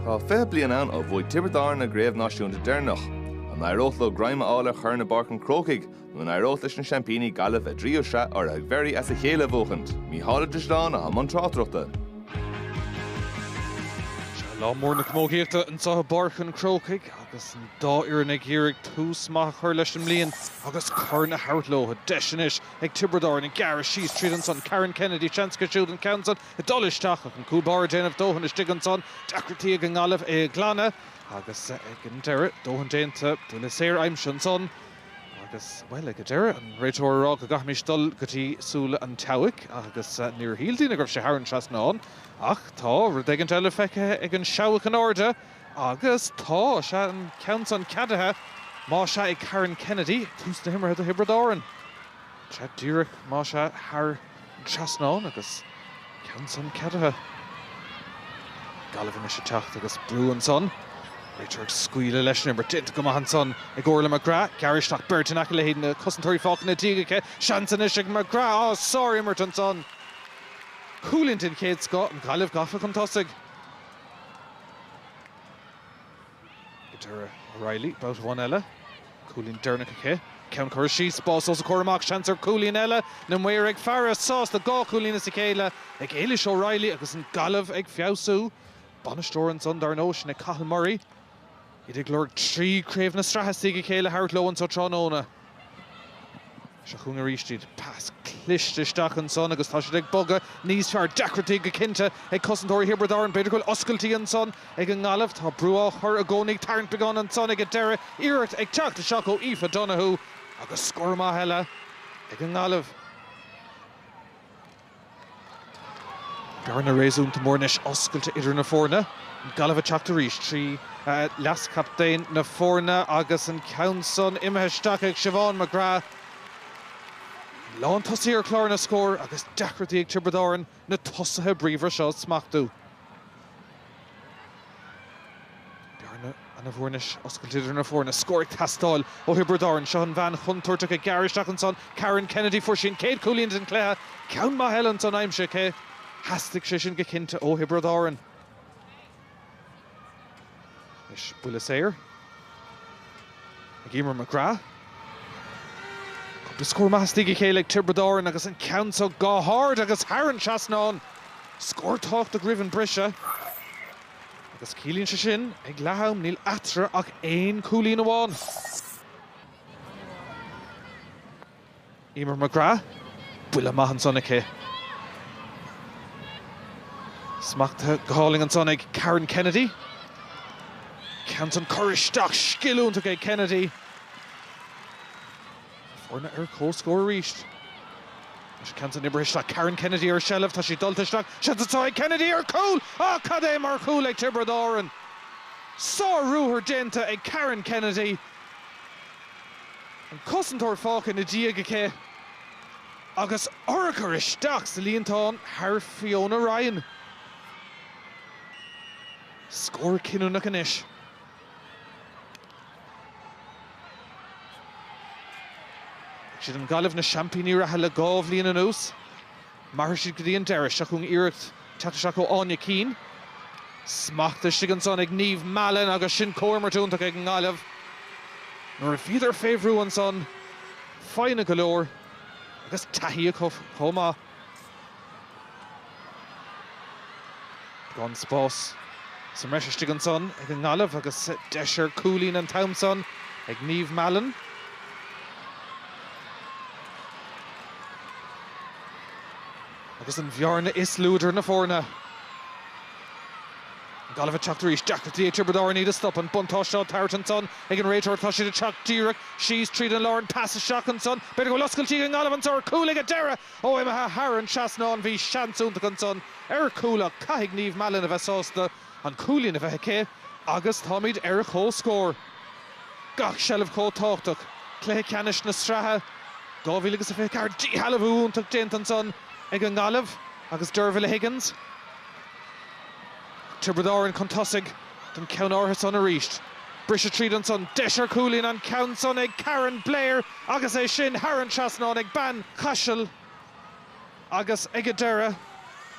Tá 20 bliain ann ó bhuaigh Tiobraid Árann a gcraobh náisiúnta deireanach. An n-éireodh leo greim a fháil ar chorn i bPáirc an Chrócaigh nó an éireodh leis na seaimpíní, Gaillimh, a dtríú sraith urraithe ag Very as a chéile a bhuachaint? Mícheál Ó Drisleáin atá i mbun tráchtaireachta. Seo lá mór na camógaíochta anseo i bPáirc an Chrócaigh agus an dá fhoireann ag iarraidh tús maith a chur leis an mbliain agus corn a thabhairt leo. Deis anois ag Tiobraid Árann gearradh síos tríd ansan. Karen Kennedy, seans aici, siúd an ceann san. ag dul isteach ach an cúl báire ag déanamh dóthain istigh ansan, deacrachtaí ag an nGaillimh é a ghlanadh agus ag an deireadh, dóthain déanta, buille saor aimsithe ansan agus, bhuel, ag an deireadh, an réiteoir ag rá go gcaithfimis dul go dtí súile an tseabhaic agus níor shíl daoine go raibh sé thar an trasnán ach tá rud éigin eile feicthe ag an seabhac in airde agus tá, sea, an ceann san ceadaithe, má sea, ag Karen Kennedy, tús na himeartha do Thiobraid Árann. Sea, díreach, má sea, thar. trasnán agus ceann san ceadaithe. Gaillimh anois ag teacht agus brú ansan. Réiteoir ag scaoileadh leis an imirt. Déanta go maith ansan ag Orlaith McGrath. Gearradh isteach beirt in aice léi ach na cosantóirí fágtha ina diaidh aici. Seans anois ag McGrath. Á! Sár imirt ansan. Cúilín den chéad scoth. An Ghaillimh gafa chun tosaigh. I dtreo O'Reilly, babhta amháin eile, cúilín deireanach aici, ceann curtha síos, spás os a comhair amach, seans ar chúilín eile na maoir ag faire, sásta dhá chúilín as a chéile ag Ailish O'Reilly agus an Gaillimh ag feabhsú. Bainisteoir ansan, dar ndóigh, sin é Cathal Murray. Iad ag lorg tríú craobh na sraithe as diaidh a chéile a thabhairt leo anso tráthnóna. Seo chugainn arís iad. Pas cliste isteach ansan agus tá siad ag bogadh níos fearr. Deacrachtaí go cinnte ag cosantóirí Thiobraid Árann. B'fhéidir go bhfuil oscailtí ansan ag an nGaillimh. Tá brú á chur i gcónaí ag tarraingt beagán ansan ag an deireadh. Iarracht ag teacht isteach ó Aoife Donohue agus scór maith eile ag an nGaillimh. Bearna réasúnta mór anois oscailte idir na foirne, an Gaillimh ag teacht arís trí leaschaptaen na foirne agus an ceann san imithe isteach ag Siobhán McGrath. Lántosaí ar chlár na scór agus deacrachtaí ag Tiobraid Árann na tosaithe bríomhara seo a smachtú. Bearna ana-mhór anois oscailte idir na foirne, scór ag teastáil ó Thiobraid Árann. Seo an bhean chontúirteach ag gearradh isteach ansan, Karen Kennedy. Fuair sí an chéad chúilín den chluiche, ceann maith eile ansan aimsithe aici. Theastaigh sé sin go cinnte ó Thiobraid Árann. Anois buille saor ag Eimear McGrath. Cúpla scór maith as diaidh a chéile ag Tiobraid Árann agus an ceann seo go hard agus thar an trasnán. Scór tábhachtach roimh an briseadh agus ciallaíonn sé sin ag leath am níl eatarthu ach aon cúilín amháin. Eimear McGrath, buille maith ansan aici. Smachtaithe go hálainn ansan ag Karen Kennedy. Ceann san curtha isteach scil iontach ag Kennedy. Foirne ar comhscór arís. An ceann san oibrithe isteach Karen Kennedy ar seilbh, tá sí dulta isteach, seans atá ag Kennedy ar chúl! Ááá cad é mar chúl ag Tiobraid Árann! Sár-ruathar déanta ag Karen Kennedy. An cosantóir fágtha ina diaidh aici agus urchar isteach sa líontán thar Fiona Ryan. Scór cinniúnach anois. Is iad an Ghaillimh na seaimpíní reatha le dhá bhliain anuas. Mairfidh siad go dtí an deireadh seo chugainn iarracht teacht isteach ó Áine Keane. Smacht istigh ansan ag Niamh Mallon agus sin comhimirt iontach ag an nGaillimh. Nuair a bhíodar fé bhrú ansan, foighne go leor agus taithí acu chomh maith. Gan spás sa mbreis istigh ansan ag an nGaillimh agus deis ar chúilín an t-am san ag Niamh Mallon. Agus an bhearna is lú idir na foirne. An Ghaillimh ag teacht arís. Deacrachtaí ag Tiobraid Árann iad a stop. An buntáiste á tabhairt ansan ag an réiteoir. Tá siad ag teacht díreach síos tríd an lár. An pas isteach ansan. B'fhéidir go bhfuil oscailtí ag an nGaillimh anso ar chúl ag an deireadh! Ó imithe thar an trasnán. Bhí seans iontach ansan ar chúl ach caithfidh Niamh Mallon a bheith sásta. an cúilín a bheith aici agus táimid ar comhscór. Gach seilbh chomh tábhachtach, cluiche ceannais na sraithe 2024, díshealbhú iontach déanta ansan ag an nGaillimh agus Dervla Higgins Tiobraid Árann chun tosaigh don cheann áirithe san arís. Briseadh tríd ansan, deis ar chúilín, an ceann san ag Karen Blair agus é sin thar an trasnán ag bean Chaisil. Agus ag an deireadh,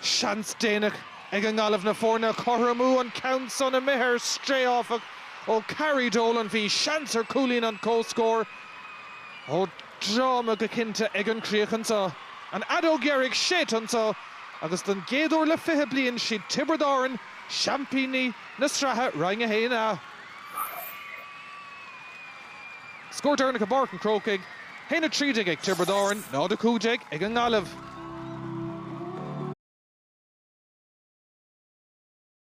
seans déanach ag an nGaillimh na foirne a chothromú an ceann san imithe ar strae áfach ó Carrie Dolan. Bhí seans ar chúilín an chomhscóir ó dráma go cinnte ag an chríoch anso. An fheadóg dheiridh séidte anso agus don gcéad uair le fiche bliain siad Tiobraid Árann seaimpíní na sraithe Roinn 1A. Scór deireanach i bPáirc an Chrócaigh, 1-13 ag Tiobraid Árann, 0-15 ag an nGaillimh.